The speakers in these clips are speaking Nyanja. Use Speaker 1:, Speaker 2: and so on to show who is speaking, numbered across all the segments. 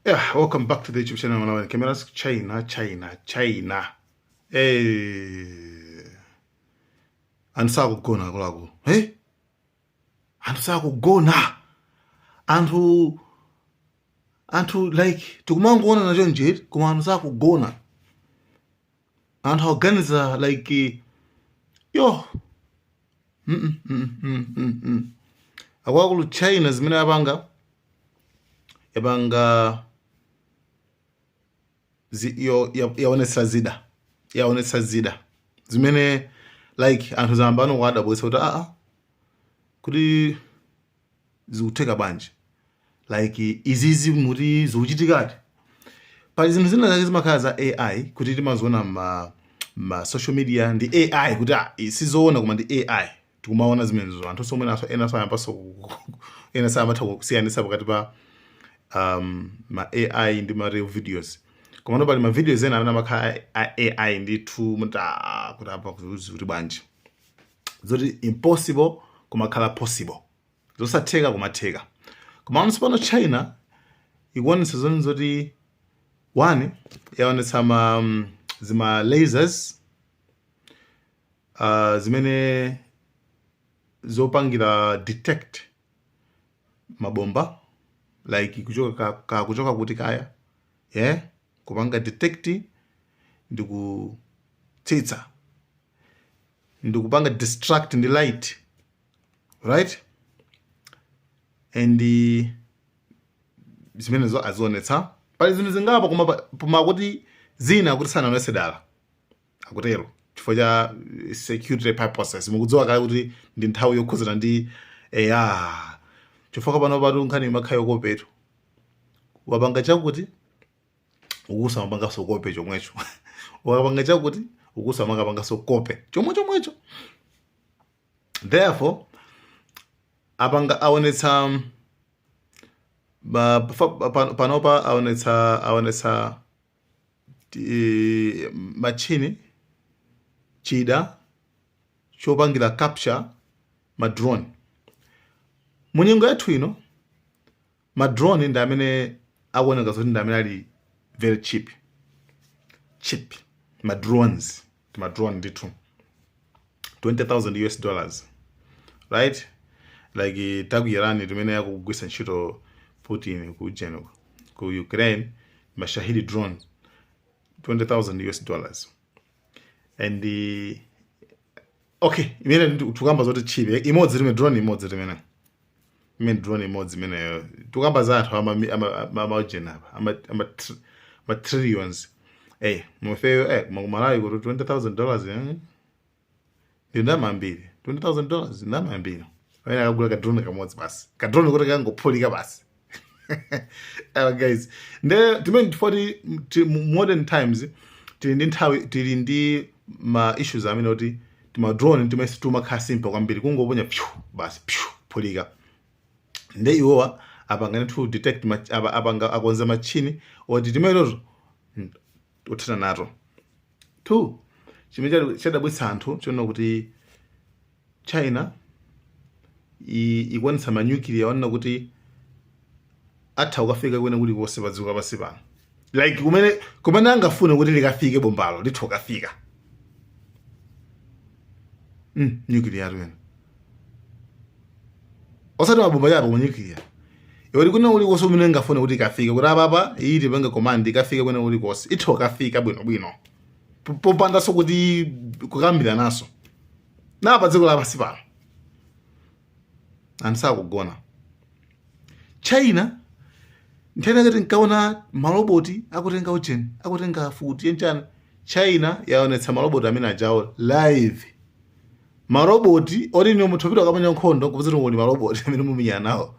Speaker 1: Yeah, welcome back to the YouTube channel Malawi Cameras. China, China, China. Hey. Anthu sakugona akuluakulu. Hey. Anthu sakugona. Anthu anthu like tikumangoona nacho nje koma anthu sakugona. anthu akuganiza like yo mm -mm, mm -mm, mm -mm. akuluakulu china zimene yapanga yapanga zi, yo yaonetsa zida yaonetsa zida zimene like anthu zambano kuwadabwesa kuti aa ah, ah, kuti zikutheka bwanji like izizi muti zikuchitikadi pali zinthu zina zake zimakhala za ai kuti timaziona ma, ma social media ndi ai kuti ah, i- sizoona koma ndi ai tikumaona zimenezo anthu somwe naso ena sayambaso ena sayamatha kusiyanisa pakati pa um, ma ai ndi ma real videos koma pali ma videos ena amene amakhala a- a- ai ndithu muti ah, kuti apa kuti bwanji zoti impossible kumakhala possible zosatheka kumatheka komano pano china ikuonetsa zoni zoti one yaonetsa ma mm, zima lasers uh, zimene zopangira detect mabomba like kuchoka ka, ka kuchoka kuti kaya yeah? kupanga detect ndi kutsitsa ndikupanga destruct ndi light right and eh, zimenezo azionetsa pali zinthu zingapo koma pa- koma kuti zina kuti sanaonese dala akutero chifukwa cha eh, security purposes mukudziwa kale kuti ndi nthawi yokhuzana ndi eya chifukwa pano patu nkhani imakhala yokopetu wapanga chakuti akuzamapangaso kope chomwecho ukapanga chakuti akuzamakapangaso kope chomwe chomwecho therefore apanga aonetsa panopa aonetsa aonetsa e, machini chida chopangira capture madrone munyengo yathu ino ma drone ndi amene akuoneka zoti ndi amene ali very cheap cheap ma drones ma drone ndithu 20000 us dollars right like ta ku iran timene akugwisa ntchito putin ku general ku ukraine ma shahed drone 20000 us dollars and uh, okay imene ndi- tukamba zoti cheap imodzi limene drone imodzi limene Imene drone imodzi imeneyo tikukamba za anthu ama ama ama ujeni apa ama ama tr- ma trillions. Eh, ifeyo eh koma ku Malawi kuti 20,000 dollars eh ndi ndalama zambiri. 20,000 dollars ndi ndalama zambiri. Amene akagula ka drone kamodzi basi. Ka drone kuti kangophulika basi. uh, guys nde timene tifo ati modern times tili ndi nthawi tili ndi ma issues amene kuti tima drone timeneti timakhala simple kwambiri kungoponya pyu basi pyu kuphulika nde iwowa apangane to detect ma- apa- apanga akonza machini oti timeneto tothana nato to chimene chadabwitsa anthu chonena kuti china ikuonetsa manyukiliya onena kuti atha kukafika kwina kulikonse pa dziko lapansi pano like kumene kumene angafune kuti likafike bombalo litha kukafika mm, nyukiliya tunena osati mabomba chabe koma nyukiliya yoti kwina kulikonse kumene ingafune kuti ikafike kuti apapa iyi tipange command ikafike kwina kulikonse itha kukafika bwino bwino popandanso kuti kukambirana nso ndi pa dziko lapansi pano anthu sakugona china nthano ngati nkaona maloboti akutenga ujeni akutenga mfuti chanichani china yaonetsa maloboti amene ajawo live maroboti oti ndi munthu opita kukamenya nkhondo kupezera kuti maroboti amene mukumenyana nawo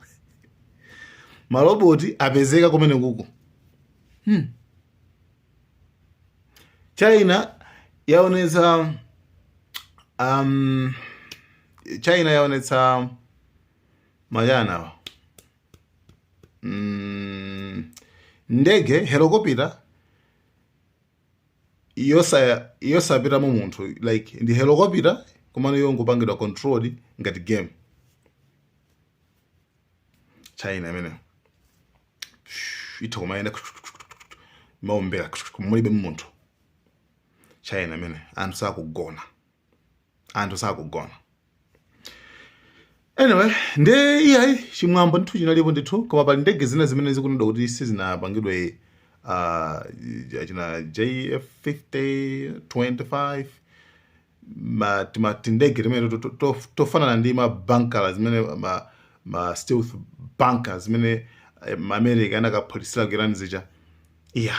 Speaker 1: maroboti apezeka kumeneko hmm. China yaonetsa um, China yaonetsa ma ujeni awa mm, ndege helokopita yosa yosapitamo munthu like ndi helokopita komano yongopangidwa controlled ngati game China imeneyo itha kumayenda kumaombera mulibe munthu china imene anthu sakugona anthu sakugona anyway nde iyayi chimwambo ndithu chinalipo ndithu koma pali ndege zina zimene zikunenedwa kuti sizinapangidwe uh, china jf 50 25 ma tima tindege timene to- to- to- tofanana ndi ma banka zimene ma, ma stealth bunker zimene eh, ma america anakaphulitsira ku iran zija iya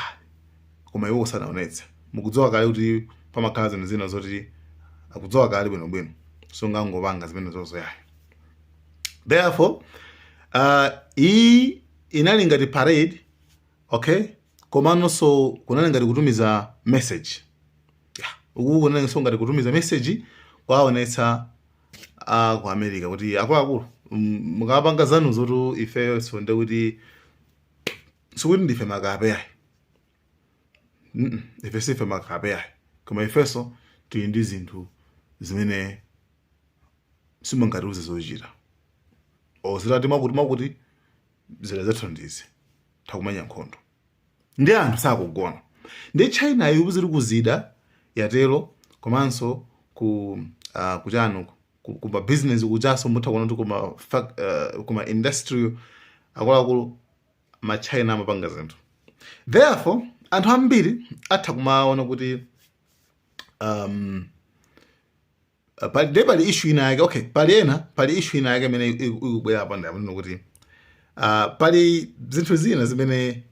Speaker 1: koma iwo sanaonetse mukudziwa kale kuti pamakhala zinthu zina zoti akudziwa kale bwinobwino sungangopanga zimene zonsezo ayi therefore uh, iyi inali ngati parade okay komanso kunali ngati kutumiza message uku kunalinso ngati kutumiza message kuwaonetsa a ku america kuti akuluakulu mm, mukapanga zanuzotu ifenso nde kuti sikuti ndife makape ayi Mm, mm, ife sife makape ayi koma ifeso tili ndi zinthu zimene simungatiuze zochita olo atati mwakuti mwakuti zida zathu ndi zothekumenya nkhondo ndi anthu sakugona nde china iyo ili kuzida yatero komanso ku uh, kuchani kuma business kujaso mutha kuona kuti kuma, uh, kuma industry akuluakulu ma china amapanga zinthu therefore anthu ambiri atha kumaona kuti um, Uh, pali nde pali issue ina yake okay pali ena pali issue ina yake imene iku- ikubwera apa ndi amene kuti uh, pali zinthu zina zimene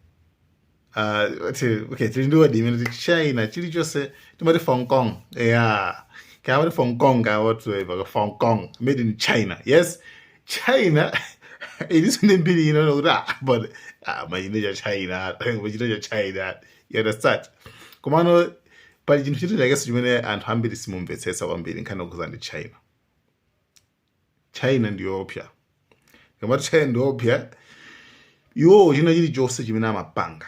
Speaker 1: uh, ti- okay tili ndi word imene ti china chilichonse timati fong kong yeah kaya amati fong kong kaya whatsoever kaya fong kong made in china yes china ilinso ndi mbiri ino kuti ah but ah chinthu cha china chinthu cha china You understand? Komano pali chinthu china chakenso chimene anthu ambiri simumvetsetsa kwambiri nkhani yokhudzana ndi China. China ndi yoopsya. Tikamati China ndi yoopsya iwowo china chilichonse chimene amapanga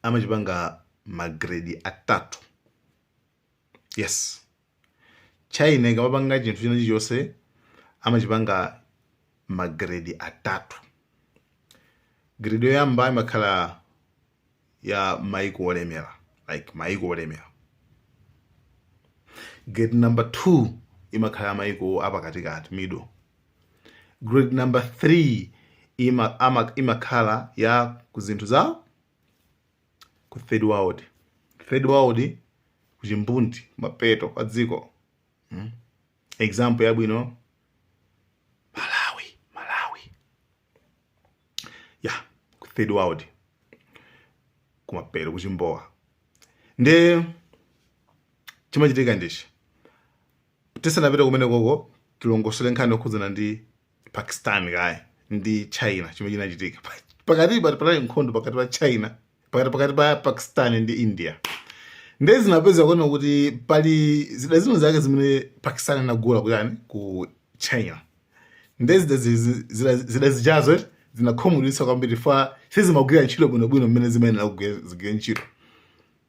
Speaker 1: amachipanga magredi atatu Yes. China ikamapanga chinthu china chilichonse amachipanga magrade atatu. Grade yoyamba imakhala ya maiko olemera like maiko olemera. Grade number 2 imakhala ya maiko apakatikati middle. Grade number 3 ima, ama, imakhala ya kuzinthu za ku third world third world kuchimbudzi kumapeto kwa dziko hmm? example yabwino malawi malawi ya ku third world kumapeto kuchimbowa nde chimachitika nchani Tisanapite kumenekoko, tilongosole nkhani yokhudzana ndi Pakistan kaye ndi China chimene chinachitika. Pa- Pakatipa panali nkhondo pakati pa China pakati pakati pa Pakistan ndi India. Ndiye zinapezeka kuona kuti pali zida zina zake zimene Pakistan inagula kuchani ku China. Ndiye zida zi- zi- zida- zida zijazo eti, zinakhumudwitsa kwambiri fa sizimagwira ntchito bwinobwino mmene zimayenera kugwira zigwire ntchito.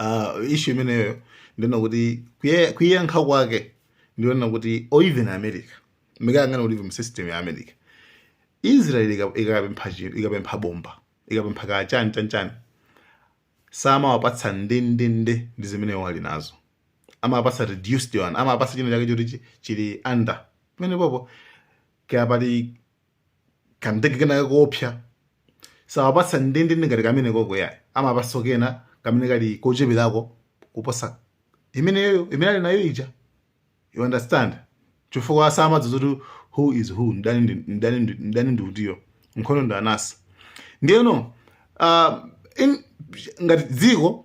Speaker 1: uh, ishu imeneyo ndiona kuti kuyankha kwake ndiona kuti or even america mukayang'ana kuti mu system ya america israel ikapempha chinthu ikapempha bomba ikapempha kaya chani chanichani samawapatsa ndendende ndi zimene iwo ali nazo amapatsa reduced one amapasa china chake choti chili under pamene popo kaya pati kandege kenaka koopsa sawapatsa ndendende ngati kamene koko yayi amapatsa kena kamene kali kocheperako kuposa imeneyo imene ali nayo ija you understand chifukwa samadziwa zoti who is who mdani ndi- mdani ndi- mdani ndi uti iyo nkhondo ndi anasi ndiyeno uh, in, ngati dziko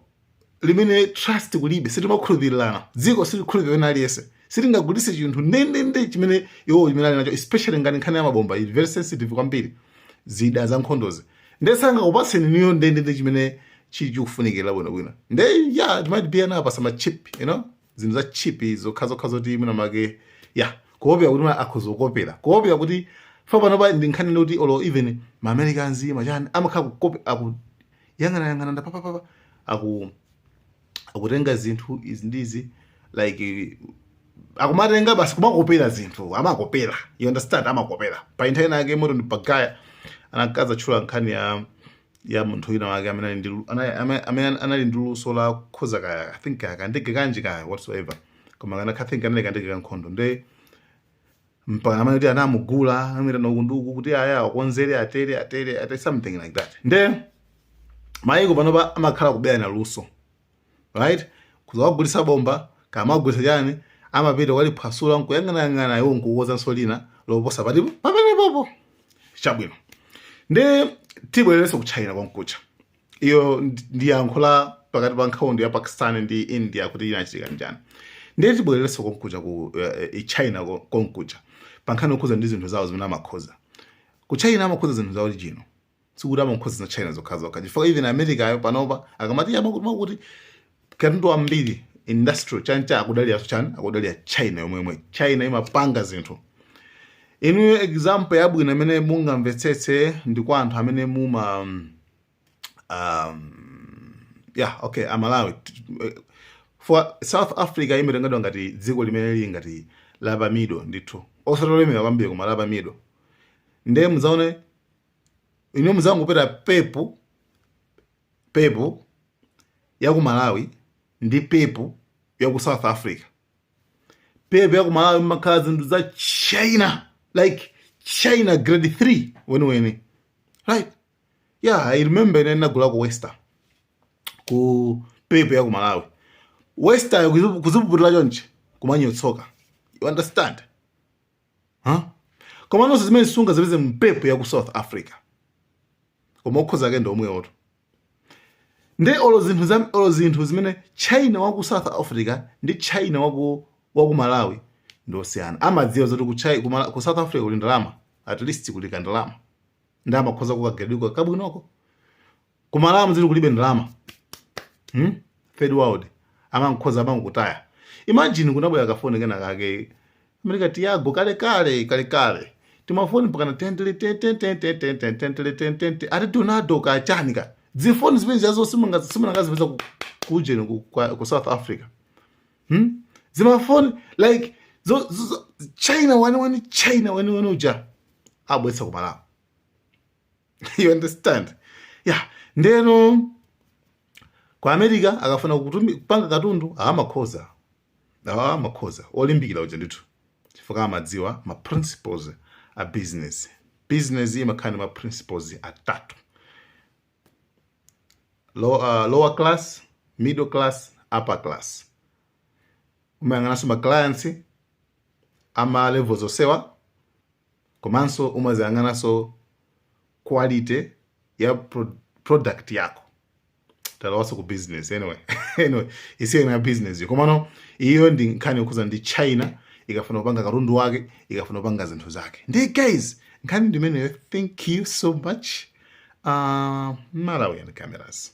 Speaker 1: limene trust kulibe sitimakhulupirirana dziko silikhulupirira wina aliyense sitingagulitse chinthu ndendende chimene iwo chimene ali nacho especially ngati nkhani ya mabomba ili very sensitive kwambiri zida za nkhondozi nde sangakupatseni inuyo ndendende chimene chili chikufunikira bwinobwino nde yeah it might be anapatsa ma chip you know zinthu za cheap zokhazokha zoti mwina mwake yeah kuopera kuti mwina akhoza kukopera kuopera kuti chifukwa panopa ndi nkhani yoti olo even ma americans machani amakhala kukope aku yang'ana yang'ana nda papapapa aku akutenga zinthu izi ndizi like akumatenga basi kumakopera zinthu amakopera you understand amakopera pa inu nthawi inayake moti ndi bagaya anakadzatchula nkhani ya ya munthu wina wake amene ali ndi lu- anali- amene amene anali ndi luso la kukonza kaya i think kaya kandege kanji kaya whatsoever koma kana i think anali kandege ka nkhondo nde mpaka amene kuti anamugula amuitana ukuuku kuti aya akonzere atere atere atere something like that nde mayiko panopa amakhala kuberana luso right kudzawagulitsa bomba kaya mwawagulitsa chani amapita aliphwasula nkuyang'anayang'ana iwo nkukonzanso lina loposa pati pamene popo chabwino nde tibwererenso ku china konkuja iyo ndi yankho la pakati pa nkhondo ya pakistan ndi india kuti inachitika bwanji ndiye tibwererenso konkuja ku eh, china ko- konkuja pankhani yokhudza ndi zinthu zawo zimene amakonza ku china amakonza zinthu za original sikuti amakonza za china zokhazokha chifukwa even americayo panopa akamati amakuti amakuti katundu wambiri industrial chanichani akudalira chani akudalira china yomwe yomwe china imapanga zinthu inuyo example yabwino imene mungamvetsetse ndi kwa anthu amene muma um, yeah okay a malawi for south africa imatengadwa ngati dziko limene lili ngati la pa middle ndithu osatolemera kwambiri koma la pa middle ndiye mudzaone inu muzangopita pepu pepu ya ku malawi ndi pepu ya ku south africa pepu ya ku malawi mumakhala zinthu za china like china grade 3 weniweni right yeah i remember ine ndinagulako western ku pepu ya ku malawi western kuzipuputira chonchi kumanyotsoka you understand huh? komanonso zimene sungazipeze mu pepu ya ku south africa koma okhoza ake ndi omwewotu nde olo zinthu za olo zinthu zimene china wa ku south africa ndi china wa ku wa ku malawi ndi osiyana amadziwa zoti ku, Chi- ku, Mala- ku south africa kuli ndalama at least kuli kandalama nde amakhoza kukagedwika kabwinoko ku malawi zili kulibe ndalama hmm? third world amangokhoza amangotaya imagine kunabwera kafoni kena kake amerika tiago kale kale kale kale timafoni mpakana tentele tentele tentele ati donado kachani ka zifoni zimene zazo simungazipeze kujeni ku south africa hmm? zimafoni like zo, zo, zo, china weniweni china weniweni uja abwesa ku malawi you understand yeah ndeno ku america akafuna kutumi- kupanga katundu amakhoza awa amakhoza olimbikira uja ndithu chifukwa amadziwa ma principles a business business imakhala ndi ma principles atatu low, uh, lower class middle class upper class umayang'ananso ma clients ama levels onsewa komanso umaziyang'ananso quality ya pro, product yako talowanso ku business anyway anyway isiyo na business yo komano iyo ndi nkhani yokhuza ndi china ikafuna kupanga katundu wake ikafuna kupanga zinthu zake ndiye guys nkhani ndimeneyo thank you so much uh, malawian cameras